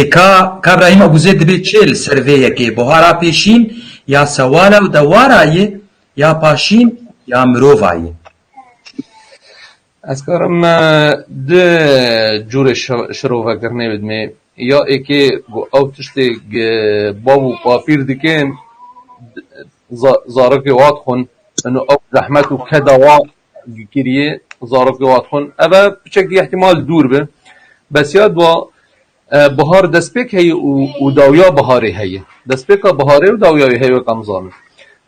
Ê ka ka Brahîm Abûzê dibê çê li ser vê yekê buhara pêşîn ya sewala û dewara yê ya paşîn ya mirova yê. Ez karim du curê şirovekirinê bidimê. Ya ekê ku ew tiştê ku bav û bapîr dikin zarokê wa dixwin, ino ew zehmet û keda wa Giriyê zarok li Watxon ev e piçekî îhtimal dûr be. Besiya dua bihar destpêk heye û dawiya biharê heye. Destpêka biharê û dawiya wê heye weka em zanin.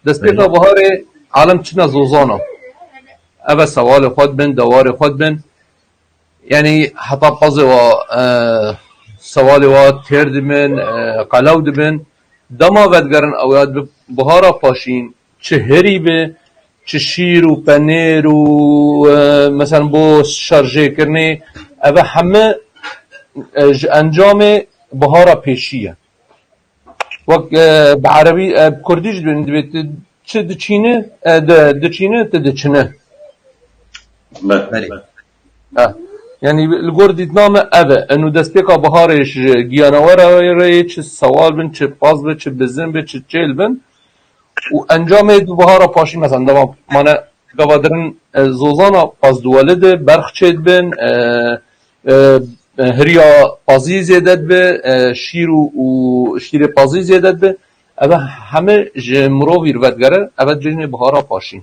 Destpêka biharê alem çine zozana. Ev e sewalê xwe dibin, dewarê xwe dibin. Yanî heta pezê wa sewalê wa têr dibin, qelew dibin. Dema vedigerin ew ya dibe bihara paşîn. Çi herî be, çi şîr û penêr û meselan bo şarjêkirinê ev e heme ji encamê bihara pêşî ye. Wek bi erebî bi kurdî jî dibê tu çi diçîne diçîne tu diçine. Belê. Yanî li gor dîtina me ev e. Eno destpêka biharê ji giyanawe re yê çi sewal bin, çi paz be, çi bizin be, çi çêl bin û encamê du bihara paşî mesela ndama mane gava dirin zozana Pazdiwelê de berx çêdibin, hiriya pazî zêde dibe, şîr û şîrê pazî zêde dibe ev e heme ji mirovî re vedigere ev e cejnê bihara paşî.